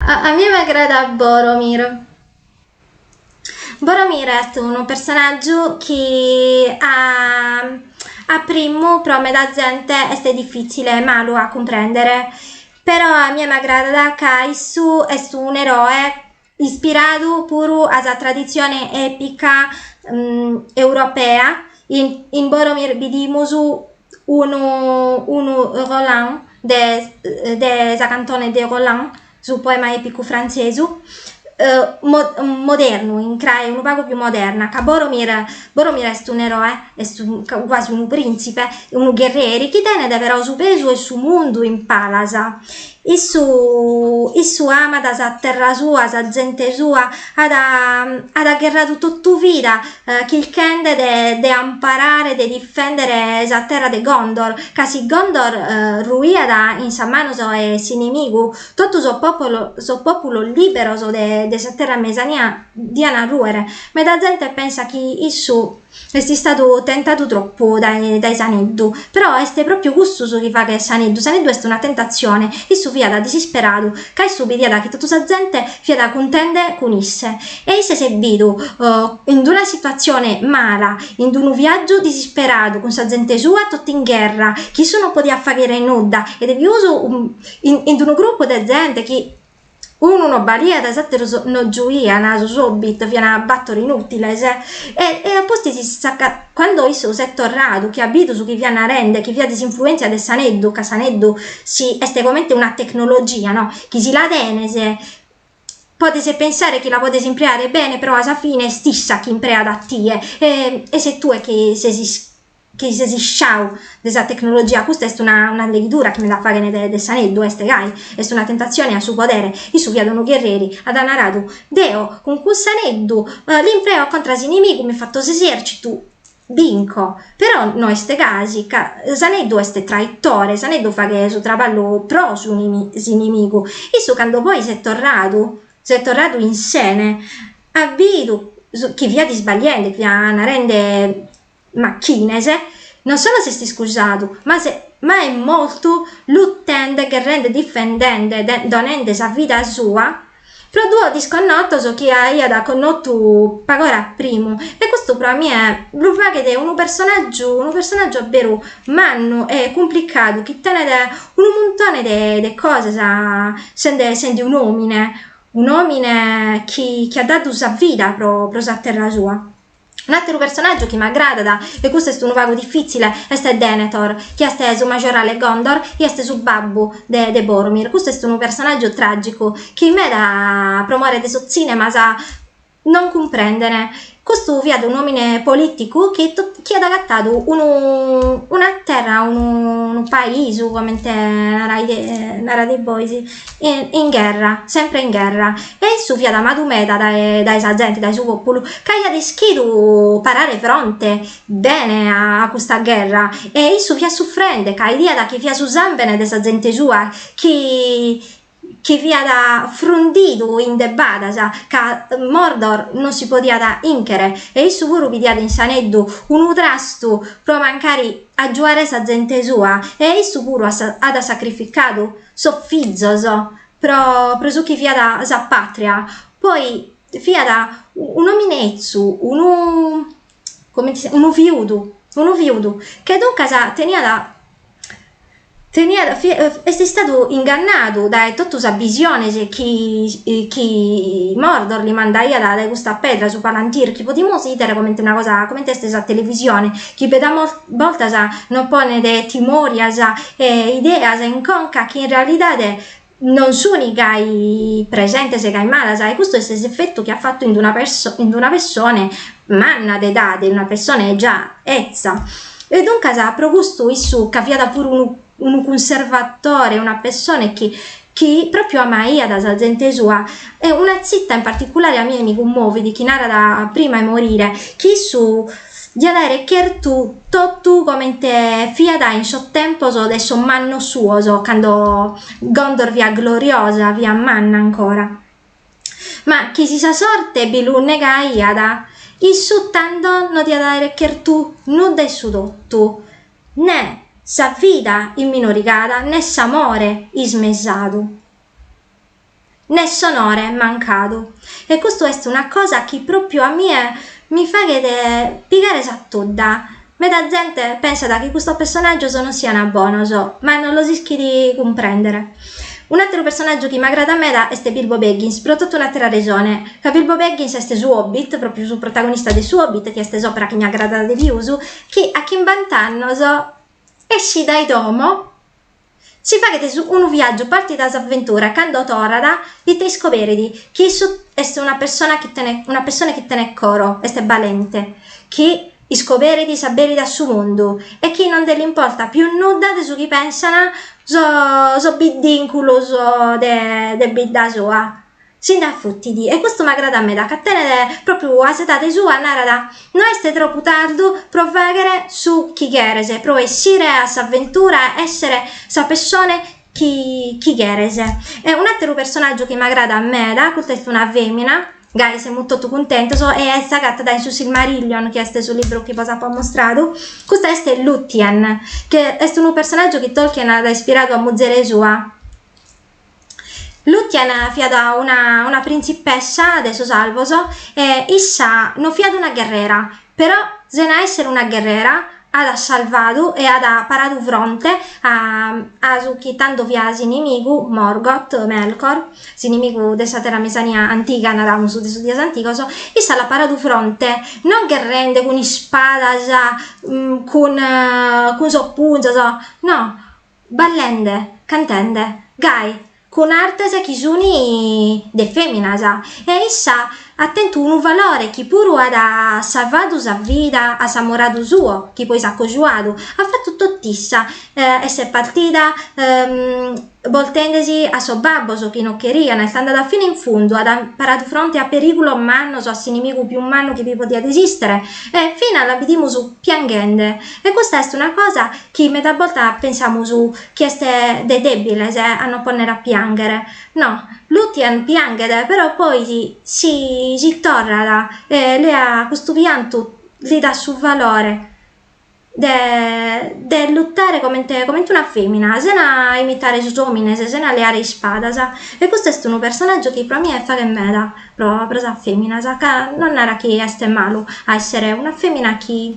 A mie m'agradat Boromir, Boromir est unu personàgiu chi a a primu pro meda zente est difìtzile, malu a cumprèndere, però a mie m'agradat ca issu est un'eroe ispiradu puru a sa traditzione èpica europea, in Boromir bidimus unu unu Roland de de sa cantone de Roland su poema epicu frantzesu modernu in crae unu pagu più moderna ca Boromir Boromir est un eroe est guasi unu printzipe unu gherrieri chi tenet però su pesu 'e su mundu in palas Issu issu amat sa terra sua sa zente sua at at gherradu totu vida chirchende de de amparare de difendere sa terra de Gondor ca si Gondor ruiat in sas manos 'e s'inimigu totu sos popolo sos populos liberos de de sa terra mesania diana ruere meda zente pensat chi issu Est istadu tentadu tropu dae dae s'aneddu, però est pròpiu custu su chi faghet s'aneddu, s'aneddu est una tentatzione, issu fiat disisperadu ca issu bidiat chi totu sa zente fiat cuntende cun isse e isse s'est bidu in d'una situatzione mala, in d'unu viàgiu disisperadu cun sa zente sua totu in gherra, chi issu non podiat fàghere nudda e de pius in in d'unu grupu de zente chi unu no baliat e s'ateros no giuian, sos hobbit fian battor inutiles e e a pustis s'accattat. Cando issu s'est torradu chi at bidu su chi fiat narende, chi fiat s'influenzia de s'aneddu, ca s'aneddu si est comente una tecnologia no, chi si la tenes podes pensare chi la podes impreare bene però a sa fine est issa chi impreat a tie e e ses tue chi ses is chi ses isciau de sa tecnologia custa est una una leghidura chi meda faghen de de s'aneddu est gai est una tentatzione a su podere issu fiat unu gherreri at naradu deo cun cuss'aneddu l'impreo contra s'inimigu mi fatto s'esercitu binco però no est gasi ca s'aneddu est traitore s'aneddu faghe su traballu pro su s'inimigu issu cando poi s'est torradu s'est torradu in sene at bidu chi fiat isbagliende fiat narende Machines non solo s'est iscusadu, ma est ma est mortu lutende, gherrende, difendende, donende sa vida sua pro duos disconnotos chi aiat connotu pag'ora a primu e custu pro a mie lu faghet unu personàgiu unu personàgiu a beru mannu e cumplicadu chi tenet unu muntone de de cosas sende sende un'òmine un'òmine chi chi at dadu sa vida pro pro sa terra sua. Un àteru personàgiu chi m'agradat, e custu est unu pagu difìtzile, est Denethor, chi est su majorale 'e Gondor e est su babbu de de Boromir. Custu est unu personàgiu tràgicu chi meda pro more de sos tzìnemas non cumprenden. Custu fiat un'òmine polìticu chi chi at agatadu unu una terra, unu paisu comente narades bois in gherra, sempre in gherra, e issu fiat amadu meda dae sa zente, dae su pòpulu, ca aiat ischidu parare fronte bene a custa gherra, e issu fiat sufrende, ca 'idiat chi fiat su sàmbene de sa zente sua chi fiat frundidu in de badas, ca Mordor non si podiat inchere, e issu puru bidiat in s'aneddu unu trastu pro mancari agiuare sa zente sua, e issu puru at sacrificadu sos fizos pro pro su chi fiat sa patria poi fiat un'òmine etzu unu comente si unu fiudu unu fiudu che duncas teniat teniat est istadu ingannadu dae totu sas bisiones chi chi Mordor li mandaiat dae custa pedra su palantir chi podimus 'idere comente una cosa comente est sa televisione chi meda bortas nos ponet timorias e ideas in conca chi in realidade non suni gai presentes gai malas, e custu est s'efetu chi at fatu in d'una in d'una pessone manna de edade, in una pessone già etza. E duncas pro custu issu ca fiat puru unu unu cunservatore, una pessone chi chi pròpriu amaiat sa zente sua e una tzita in particulare a mie mi cummovit chi narat prima 'e morire chi issu diat aere chertu totu comente fiat in sos tempos de sos mannos suos cando Gondor fiat gloriosa, fiat manna ancora ma chi si sa sorte bi lu negaiat issu tando no diat aere chertu nudda 'e su totu Nè sa vida imminorigada nè s'amore ismesadu nè s'onore mancadu e custu est una cosa chi propriu a mie mi faghet pigare sa tudda, meda zente pensat chi custos pessonàgios non siana bonos ma non los ischit cumprèndere. Un'àteru pessonàgiu chi m'agradat meda est Bilbo Baggins pro totu un'àtera resone, ca Bilbo Baggins est su Hobbit, propriu su protagonista de su Hobbit chi est s'òpera chi mi agradat de pius chi a chimbant'annos escit dae domo si faghet unu viàgiu partit a s'aventura cando torrat ite iscoberit chi issu est una persona chi tenet una pessone chi tenet coro est balente chi iscoberit s'aberit a su mundu e chi non nde l'importat pius nudda de su chi pensana sos sos biddinculos de de bidda sua Si nd'afutit. E custu m'agradat meda ca tenet pròpriu a s'edade sua, narat, no est tropu tardu pro fàghere su chi cheres, pro essire a s'aventura, èssere sa pessone chi chi cheres. E un'àteru personàgiu chi m'agradat meda, custa est una fèmina, gai semus totu cuntentos, e est agatada in su Silmarillion, chi est su libru chi bos apo ammustradu, custa est Lúthien, chi est unu personàgiu chi Tolkien at ispiradu a muzere sua, Lúthien fiat una una printzipessa de sos alvos e issa no fiat una gherrera, però sena èssere una gherrera at salvadu e at paradu fronte a a su chi tando fiat s'inimigu, Morgoth, Melkor, s'inimigu de sa Terra Mesania antiga, naramus de sos dies antigos, issa l'at paradu fronte non gherrende cun ispadas cun cun sos punzos, no Ballende, cantende, gai, cun artes chi sunt de fèminas, e issa at tentu unu valore chi puru at salvadu sa vida a s'amoradu suo chi poi s'at cojuadu, at fatu tot'issa, e s'est partida boltendesi a sos babbos chi no cherian, est andada fina in fundu, at paradu fronte a perìgulos mannos, a s'inimigu pius mannu chi bi podiat esìstere, e finas la bidimus pianghende E custa est una cosa chi meda boltas pensamus chi est de dèbiles a nos pònnere a piànghere. No, Lúthien pianghet però poi si si torrat e lea custu piantu li dat su valore de de lutare comente comente una fèmina, sena imitare sos òmines, sena leare ispadas. E custu est unu personàgiu chi pro a mie faghet meda pro pro sas fèminas, ca non narat chi est malu a èssere una fèmina chi